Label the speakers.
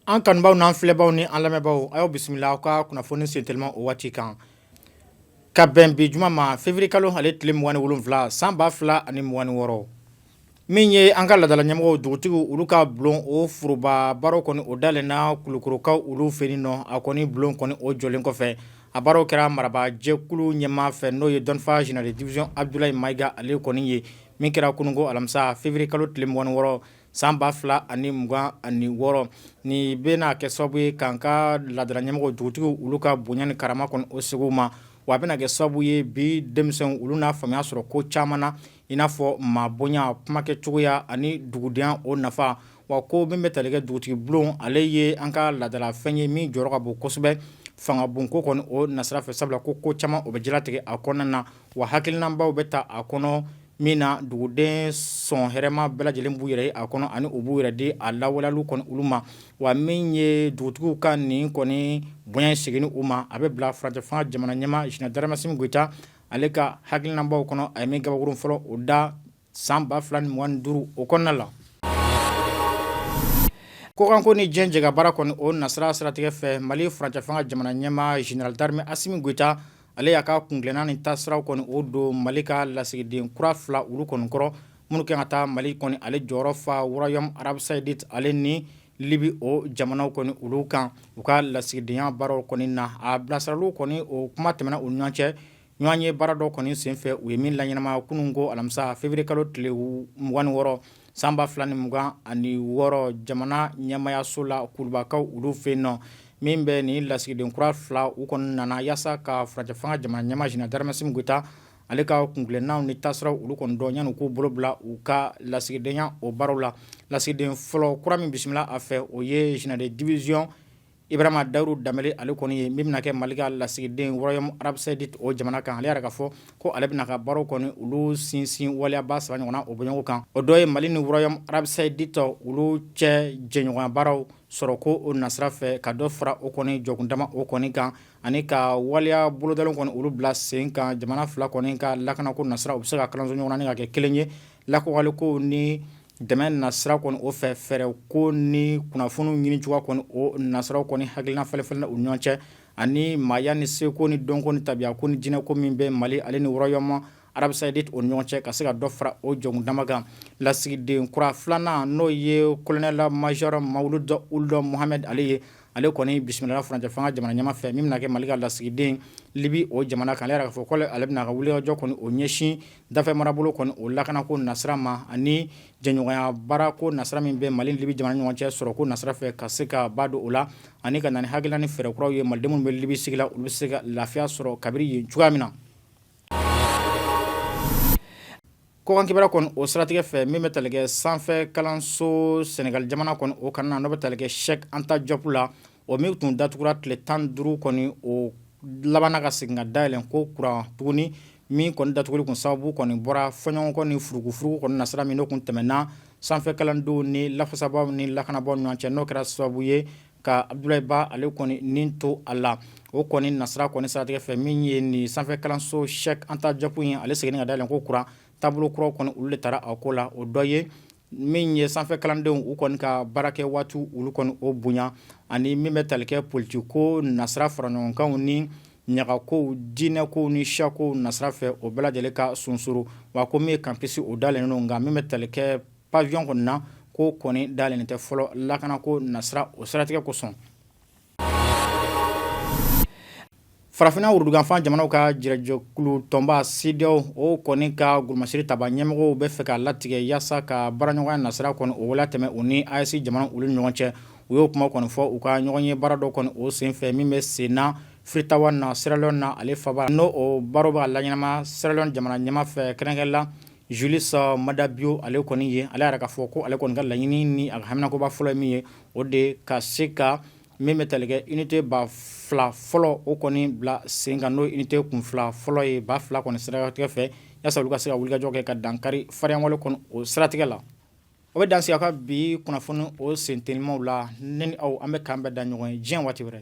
Speaker 1: An kanubaw n'an filɛbaw ni an lamɛnbaw a y'aw bisimila aw ka kunnafoni sentelima o waati kan ka bɛn bi juma ma février kalo ale tile mugan ni wolonwula san ba fila ani mugan ni wɔɔrɔ Min ye an ka laadala ɲɛmɔgɔw dugutigiw olu ka bulon o foroba baara kɔni o dayɛlɛnna Kulukɔrɔkaw olu fɛ yen nɔ a kɔni bulon kɔni o jɔlen kɔfɛ a baaraw kɛra marabajɛkulu ɲɛmaa fɛ n'o ye dɔnfaa général de division Abdulayi Mayiga ale kɔni ye min kɛra kunungo alamisa février kalo tile mugan ni wɔɔrɔ san ba fila ani mugan ani wɔɔrɔ nin bɛna kɛ sababu ye k'an ka laadala ɲɛmɔgɔw dugutigiw olu ka bonya ni karama kɔni o segin u ma wa a bɛna kɛ sababu ye bi denmisɛnw olu na faamuya sɔrɔ ko caman na i n'a fɔ maa bonya kumakɛ cogoya ani dugudenya o nafa wa ko min bɛ tali kɛ dugutigi bulon ale ye an ka laadala fɛn ye min jɔyɔrɔ ka bon kosɛbɛ fanga bon ko kɔni o nasira fɛ sabula ko caman o bɛ jala tigɛ a kɔnɔna na wa hakilinabaw bɛ ta a kɔnɔ min na duguden sɔn hɛrɛ ma bɛɛ lajɛlen b'u yɛrɛ ye a kɔnɔ ani u b'u yɛrɛ di a lawaleyaliw kɔni olu ma wa min ye dugutigiw ka nin kɔni bonya in seginni u ma a bɛ bila furancɛfanga jamana ɲɛmaa général d'armée Asimi Goyita ale ka hakilinabaw kɔnɔ a ye min gabakuru fɔlɔ o da san ba fila ni mugan ni duuru o kɔnɔna la kɔkanko ni diɲɛ jɛkabaara kɔni o nasira siratigɛ fɛ mali furancɛfanga jamana ɲɛmaa général d'armée Asimi Goyita ale y'a ka kuntilenna ni taasiraw kɔni o don mali ka lasigiden kura fila olu kɔni kɔrɔ minnu kan ka taa mali kɔni ale jɔyɔrɔ fa Royaume Arabie Saoudite ale ni Libi o jamanaw kɔni olu kan u ka lasigidenya baaraw kɔni na a bilasiraliw kɔni o kuma tɛmɛna u ɲɔgɔn cɛ ɲɔgɔn ye baara dɔ kɔni senfɛ u ye min laɲɛnamaya kunungo alamisa février kalo tile mugan ni wɔɔrɔ san ba fila ni mugan ani wɔɔrɔ jamana ɲɛmayaso la Kulubakaw olu fɛ yen nɔ min bɛ nin lasigiden kura fila u kɔni nana yaasa ka furancɛfanga jamana ɲɛmaa général d'armée Asimi Goyita ale ka kuntilennaw ni taasiraw olu kɔni dɔn yanni u k'u bolo bila u ka lasigidenya o baaraw la lasigiden fɔlɔ kura min bisimila a fɛ o ye général de division Ibrahima Dahirou Dembélé ale kɔni ye min bɛna kɛ mali ka lasigiden Royaume Arabie Saoudite o jamana kan ale yɛrɛ ka fɔ ko ale bɛna ka baaraw kɔni olu sinsin waleyaba saba ɲɔgɔnna o bɔɲɔgɔn kan o dɔ ye mali ni Royaume Arabie Saoudite olu cɛ jɛɲɔgɔnya baaraw sɔrɔko o nasira fɛ ka dɔ fara o kɔni jɔkundama o kɔni kan ani ka waleya bolodalenw kɔni olu bila sen kan jamana fila kɔni ka lakana ko nasira u bɛ se ka kalanso ɲɔgɔn na ni ka kɛ kelen ye lakɔgɔliko ni dɛmɛ nasira kɔni o fɛ fɛɛrɛ ko ni kunnafoniw ɲini cogoya kɔni o nasiraw kɔni hakilina falenfalenna u ɲɔgɔn cɛ ani maaya ni seko ni dɔnko ni tabiya ko ni diinɛko min bɛ mali ale ni Royaume Arabie Saoudite o ɲɔgɔn cɛ ka se ka dɔ fara o jɔkundama kan lasigiden kura filanan n'o ye colonel major Mawuludu Ould Mohamed ale ye ale kɔni bisimila furancɛ fanga jamana ɲɛmaa fɛ min bɛna kɛ mali ka lasigiden libi o jamana kan ale yɛrɛ ka fɔ ko ale bɛna ka wulikajɔ kɔni o ɲɛsin dafɛ marabolo kɔni o lakanako nasira ma ani jɛɲɔgɔnya baara ko nasira min bɛ mali libi jamana ɲɔgɔn cɛ sɔrɔko nasira fɛ ka se ka ba don o la ani ka na ni hakilina ni fɛɛrɛ kuraw ye malidenw minnu bɛ libi sigi la u bɛ se ka lafiya sɔrɔ kabiri yen cogoya min na Kokan kibara kɔni o siratigɛ fɛ min bɛ tali kɛ sanfɛ kalanso sɛnɛgali jamana kɔni o kan na n'o bɛ tali kɛ Cheikh Anta Diop la o min tun datugura tile tan duuru kɔni o labanna ka segin ka dayɛlɛn ko kura tuguni min kɔni datuguli kun sababu kɔni bɔra fɔɲɔgɔnkɔ ni furugufurugu kɔni nasira min n'o kun tɛmɛna sanfɛ kalandenw ni lafasabaaw ni lakanabaaw ɲɔgɔn cɛ n'o kɛra sababu ye ka Abudulayi Ba ale kɔni ni to a la, o kɔni nasira kɔni siratigɛ fɛ min ye nin sanfɛ kalanso Cheikh Anta Diop ye, ale seginna ka dayɛlɛn ko kura taabolo kuraw kɔni olu de tara a ko la, o dɔ ye min ye sanfɛ kalandenw u kɔni ka baarakɛ waati olu kɔni o bonya ani min bɛ tali kɛ politikiko nasira faraɲɔgɔnkanw ni ɲagakow, diinɛkow ni siyakow nasira fɛ o bɛɛ lajɛlen ka sunsuru, wa ko min ye campus o dayɛlɛnnen don nka min bɛ tali kɛ Pavillon kɔni na ko kɔni dayɛlɛnnen tɛ fɔlɔ lakanako nasira o siratigɛ kosɔn farafinna worodugufan jamanaw ka jɛrɛjɛkulu tɔnba CEDEAO o kɔni ka golomasiri tabaa ɲɛmɔgɔw bɛ fɛ ka latigɛ yaasa ka baaraɲɔgɔnya nasira kɔni o waleya tɛmɛ u ni AES jamanaw olu ɲɔgɔn cɛ u y'o kuma kɔni fɔ u ka ɲɔgɔn ye baara dɔ kɔni o senfɛ min bɛ sen na Freetown na Sierra Leone na ale faba n'o baaraw bɛ ka laɲɛnama Sierra Leone jamana ɲɛmaa fɛ kɛrɛnkɛ la Julius Maada Bio ale kɔni ye ale yɛrɛ ka fɔ ko ale kɔni ka laɲini ni a ka haminakoba fɔlɔ ye min ye o de ka se ka min bɛ tali kɛ unité ba fila fɔlɔ o kɔni bila sen kan n'o unité kun fila fɔlɔ ye ba fila kɔni siratigɛ fɛ yaasa olu ka se ka wulikajɔ kɛ ka dankari fariyawale kɔni o siratigɛ la o bɛ dan sigi aw ka bi kunnafoni o sentelimaw la ne ni aw an bɛ k'an bɛɛ da ɲɔgɔn ye diɲɛ waati wɛrɛ